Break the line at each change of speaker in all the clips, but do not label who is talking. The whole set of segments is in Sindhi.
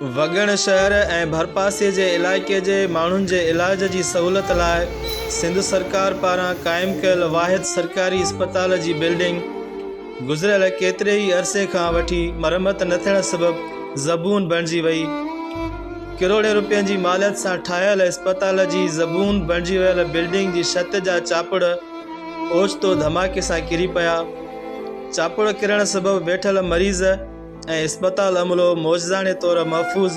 وڳڻ شهر ۽ ڀرپاسي جي علائقي جي ماڻهن جي علاج جي سهولت لاء سنڌ سرڪار پاران قائم ڪيل واحد سرڪاري اسپتال جي بلڊنگ گذريل ڪيتري ئي عرصي کان وٺي مرمت نه ٿيڻ سبب زبون بڻجي وئي ڪروڙين روپين جي ماليت سان ٺاهيل اسپتال جي زبون بڻجي ويل بلڊنگ جي ڇت جا چاپڙ اوچتو ڌماڪي سان ڪري پيا چاپڙ ڪرڻ سبب ويٺل مريض ۽ اسپتال عملو معجزاڻي طور محفوظ،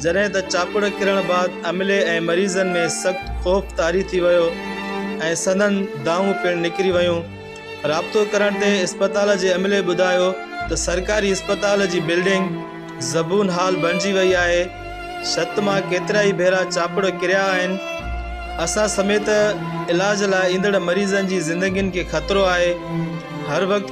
جڏهن ته چاپڙ ڪرڻ بعد عملي ۽ مريضن ۾ سخت خوف طاري ٿي ويو ۽ سندن دانهون پڻ نڪري ويون. رابطو ڪرڻ تي اسپتال جي عملي ٻڌايو ته سرڪاري اسپتال جي بلڊنگ زبون حال بڻجي وئي آهي، ڇت مان ڪيترائي ڀيرا چاپڙ ڪريا آهن، اسان سميت علاج لاء ايندڙ مريضن جي زندگين کي خطرو آهي، هر وقت